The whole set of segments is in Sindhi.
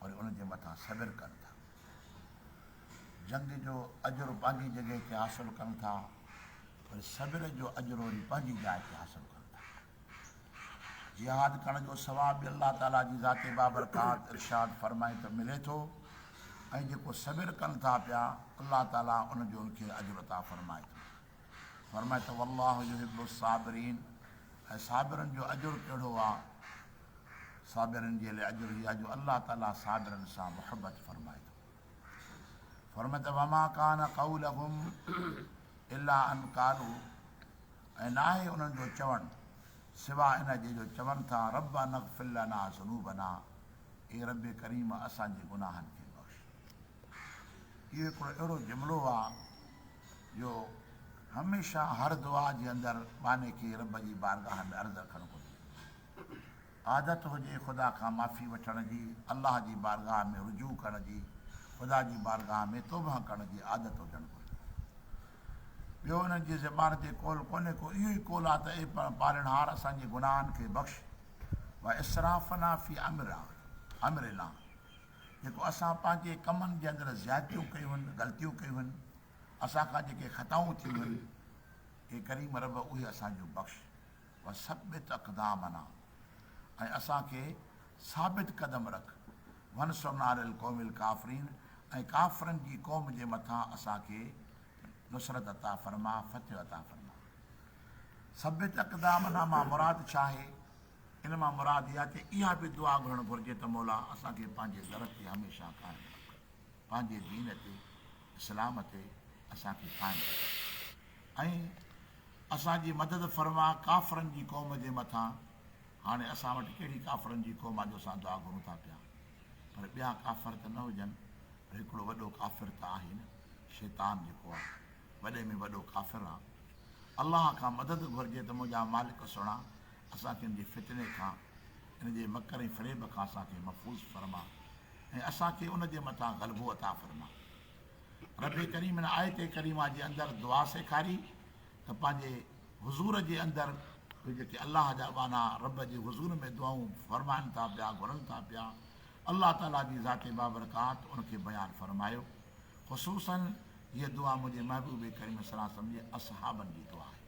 وري ان جي مٿان صبر ڪن ٿا. جنگ جو اجرو پنهنجي جڳهه تي حاصل ڪن ٿا، وري صبر جو اجرو وري پنهنجي جاء تي حاصل ڪن ٿا. جهاد ڪرڻ جو ثواب به الله تعاليٰ جي ذات بابرڪات ارشاد فرمائي ته ملي ٿو ۽ جيڪو صبر ڪن ٿا پيا الله تعاليٰ ان جو ان کي اجر عطا فرمائي ٿو. فرمائي ته والله يحب الصابرين ۽ صابرن جو اجر ڪهڙو آ؟ صابرن جي لاء اجر هي آ جو الله تعالي صابرن سان محبت فرمائي ٿو. فرمائي ته وما ڪان قولهم الا ان قالو ۽ ناهي انهن جو چوڻ سوا ان جي جو چون ٿا ربنا اغفر لنا ذنوبنا اي رب ڪريم اسان جي گناهن کي اهو هڪڙو اهڙو جملو آ جو هميشه هر دعا جي اندر ٻانهي کي رب جي بارگاهه ۾ عرض رکڻ گهرجي. عادت هجي خدا کان معافي وٺڻ جي، الله جي بارگاهه ۾ رجوع ڪرڻ جي، خدا جي بارگاهه ۾ توبهه ڪرڻ جي عادت هجڻ گهرجي. ٻيو انهن جي زبان تي قول ڪونهي ڪو اهو ئي قول آ ته اي پالڻهار اسان جي گناهن کي بخش، واسرافنا في امرنا، جيڪو اسان پنهنجي ڪمن جي اندر زيادتيون ڪيون هن، غلطيون ڪيون هن، اسان کان جيڪي خطائون ٿيون هن، اي ڪريم رب اهي اسان جون بخش، وثبت اقدامنا ۽ اسان کي ثابت قدم رک، وانصرنا علي القوم الڪافرين ۽ ڪافرن جي قوم جي مٿان اسان کي نصرت عطا فرما، فتح عطا فرما. ثبت اقدامنا مان مراد ڇا آهي؟ ان مان مراد اها ته اها به دعا گهرڻ گهرجي ته مولا اسان کي پنهنجي در تي هميشه قائم رک، پنهنجي دين تي، اسلام تي، اسان کي قائم رک ۽ اسان جي مدد فرما ڪافرن جي قوم جي مٿان هاڻي اسان وٽ ڪهڙي ڪافرن جي قوم آ جو اسان دعا گهرون ٿا پيا پر ٻيا ڪافر ته نه هجن پر هڪڙو وڏو ڪافر ته آهي نه شيطان جيڪو آ وڏي ۾ وڏو ڪافر آ الله کان مدد گهرجي ته منهنجا مالڪ سهڻا اسان کي ان جي فتني کان، ان جي مڪر ۽ فريب کان اسان کي محفوظ فرما ۽ اسان کي ان جي مٿان غلبو عطا فرما. ربّ ڪريم ان آيت ڪريمه جي اندر دعا سيکاري ته پنهنجي حضور جي اندر اهي جيڪي الله جا ٻانها ربّ جي حضور ۾ دعائون فرمائن ٿا پيا، گهرن ٿا پيا، الله تعاليٰ جي ذات بابرڪات ان کي بيان فرمايو. خصوصاً هيء دعا منهنجي محبوب ڪريم صلّي الله عليه وسلّم جي اصحابن جي دعا آهي.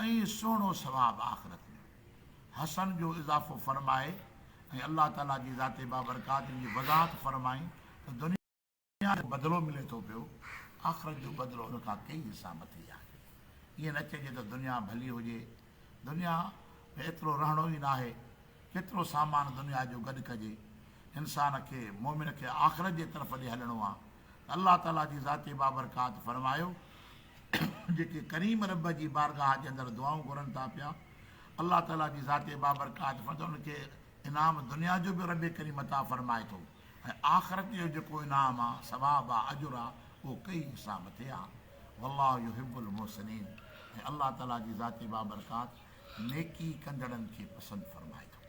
۽ سهڻو ثواب آخرت ۾. حسن جو اضافو فرماء ۽ الله تعالي جي ذات بابرڪات جي وضاحت فرمائي ته دنيا جو بدلو ملي ٿو پيو، آخرت جو بدلو ان کان ڪيئي حصا مٿي آهي. ائين نه چئجي ته دنيا ڀلي هجي، دنيا ۾ ايترو رهڻو ئي ناهي، ڪيترو سامان دنيا جو گڏ ڪجي. انسان کي، مؤمن کي، آخرت جي طرف ڏي هلڻو آهي ته الله تعالي جي ذات بابرڪات فرمايو ته. جيڪي ڪريم ربّ جي بارگاهه جي اندر دعائون گهرن ٿا پيا، الله تعاليٰ جي ذات بابرڪات فرمائي ٿو ته انهن کي انعام دنيا جو به ربّ ڪريم عطا فرمائي ٿو ۽ آخرت جو جيڪو انعام آهي، ثواب آهي، اجر آهي، اهو ڪئي حساب مٿي آهي. والله يحب المحسنين ۽ الله تعاليٰ جي ذات بابرڪات نيڪي ڪندڙن کي پسند فرمائي ٿو.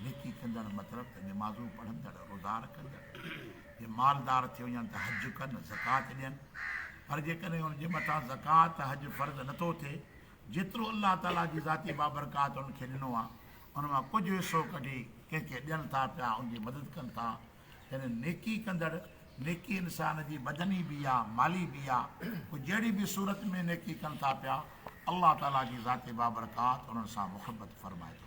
نيڪي ڪندڙ مطلب ته نمازون پڙهندڙ، روزا رکندڙ، جي مالدار ٿي وڃن ته حج ڪن، زڪوات ڏين. پر جيڪڏهن ان جي مٿان زڪوات ته حج فرض نه ٿو ٿئي، جيترو الله تعاليٰ جي ذاتي بابرڪات انهن کي ڏنو آهي، ان مان ڪجهه حصو ڪڍي ڪنهن کي ڏين ٿا پيا، ان جي مدد ڪن ٿا. يعني نيڪي ڪندڙ، نيڪي انسان جي بدني به يا مالي به يا پوء جهڙي به صورت ۾ نيڪي ڪن ٿا پيا، الله تعاليٰ جي ذاتي بابرڪات انهن سان محبت فرمائي ٿو.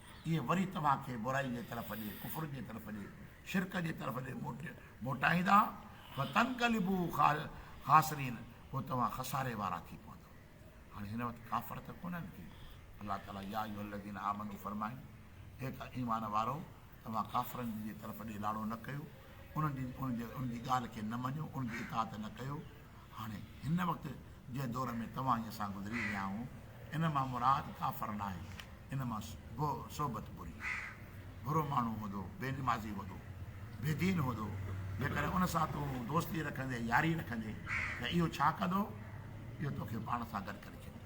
اهي وري توهان کي برائي جي طرف ڏي، ڪفر جي طرف ڏي، شرڪ جي طرف ڏي موٽائيندا، فتنقلبو خاسرين، پوء توهان خساري وارا ٿي پوندؤ. هاڻي هن وقت ڪافر ته ڪونهن ڪي. الله تعاليٰ يا ايها الذين آمنوا فرمائي، اي ته ايمان وارؤ! توهان ڪافرن جي طرف ڏي لاڙو نه ڪيو، انهن جي ڳالهه کي نه مڃو، انهن جي اطاعت نه ڪيو، هاڻي هن وقت جنهن دور ۾ توهان ۽ اسان گذري رهيا آهيون، ان مان مراد ڪافر ناهي، ان مان به صحبت بري. برو ماڻهو هوندو، بي نمازي هوندو، بي دين هوندو، جيڪڏهن ان سان تون دوستي رکندين، ياري رکندين ته اهو ڇا ڪندو؟ اهو توکي پاڻ سان گڏ ڪري ڇڏيندو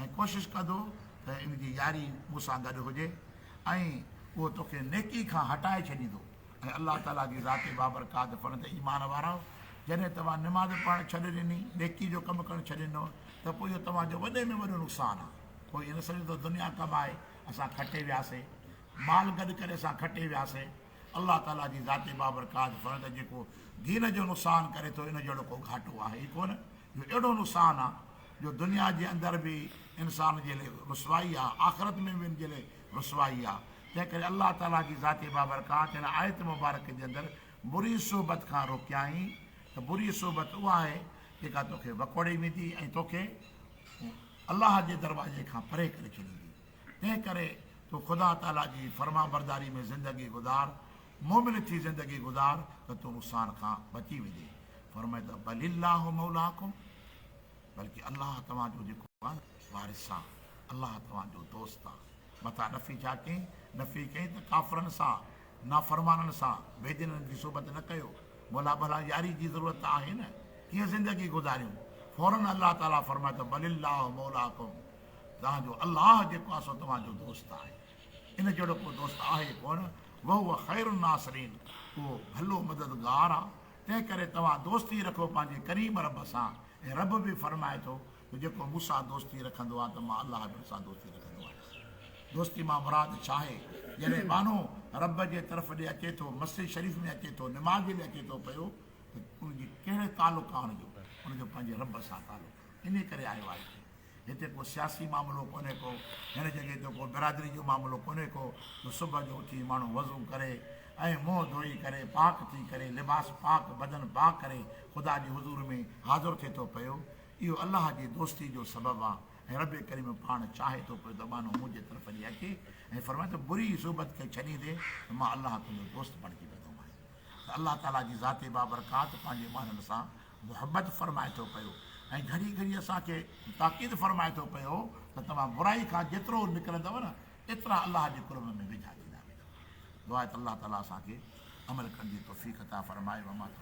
۽ ڪوشش ڪندو ته ان جي ياري مون سان گڏ هجي ۽ اهو توکي نيڪي کان هٽائي ڇڏيندو. اي الله تعاليٰ جي ذات بابرڪات فن تي ايمان وارؤ! جڏهن توهان نماز پڙهڻ ڇڏي ڏني، نيڪي جو ڪم ڪرڻ ڇڏي ڏنو، ته پوء اهو توهان جو وڏي ۾ وڏو نقصان آهي. ڪو ائين نه سمجهي ته دنيا ڪم آهي، اسان کٽي وياسين. مال گڏ ڪري اسان کٽي وياسين. الله تعاليٰ جي ذات بابرڪات فن ته جيڪو دين جو نقصان ڪري ٿو، ان جهڙو ڪو گهاٽو آهي ئي ڪونه. اهو اهڙو نقصان آهي، جو دنيا جي اندر به انسان جي لاء رسوائي آهي، آخرت ۾ به ان جي لاء رسوائي آ، تنهن ڪري الله تعاليٰ جي ذات بابرڪات هن آيت مبارڪه جي اندر بري صحبت کان روڪيائين ته بري صحبت اها آهي جيڪا توکي وڪوڙي ويندي ۽ توکي الله جي دروازي کان پري ڪري ڇڏيندي تنهن ڪري تون خدا تعاليٰ جي فرمانبرداري ۾ زندگي گذار مؤمن ٿي زندگي گذار ته تون نقصان کان بچي ويندي فرمائي ته بل الله مولاڪم بلڪه الله توهان جو جيڪو وارث سان الله توهان جو دوست آ متان نفي ڇا ڪئين نفي ڪئين ته ڪافرن سان نافرمانن سان بي دينن جي صحبت نه ڪيو مولا ڀلا ياري جي ضرورت ته آهي نه ڪيئن زندگي گذاريون فورن الله تعالي فرمايو ته بل الله مولاڪم توهان جو الله جيڪو آ سو توهان جو دوست آهي ان جهڙو ڪو دوست آهي ڪونه وهو خير الناصرين اهو ڀلو مددگار آ تنهن ڪري توهان دوستي رکو پنهنجي ڪريم رب سان ۽ رب به فرمائي ٿو ته جيڪو مون سان دوستي رکندو آهي ته مان الله به ان سان دوستي رکندو آهيان. دوستي مان مراد ڇا آهي؟ جڏهن ٻانهو رب جي طرف ڏي اچي ٿو، مسجد شريف ۾ اچي ٿو، نماز جي لاء اچي ٿو پيو ته ان جي ڪهڙو تعلق آهي ان جو؟ ان جو پنهنجي رب سان تعلق آهي. انهيء ڪري آيو آهي هتي. هتي ڪو سياسي معاملو ڪونهي ڪو، هن جڳهه تي ڪو برادري جو معاملو ڪونهي ڪو جو صبح جو اٿي ماڻهو وضو ڪري ۽ منهن ڌوئي ڪري پاڪ ٿي ڪري لباس پاڪ بدن پاڪ ڪري خدا جي حضور ۾ حاضر ٿي ٿو پيو. اهو الله جي دوستي جو سبب آ ۽ ربّ ڪريم پاڻ چاهي ٿو پوء زبانون منهنجي طرف ڏي اچي ۽ فرمائي ته بري صحبت کي ڇڏيندي ته مان الله تنهنجو دوست بڻجي ويندو مانء ته الله تعاليٰ جي ذات بابرڪات پنهنجي ٻانهن سان محبّت فرمائي ٿو پيو ۽ گهڙي گهڙي اسان کي تاڪيد فرمائي ٿو پيو ته توهان برائي کان جيترو نڪرندؤ نه ايترا الله جي قرب ۾ ويجها ٿيندا ويندؤ دعا ته الله تعاليٰ اسان کي عمل ڪرڻ جي توفيق عطا فرمائي وما توفيقي.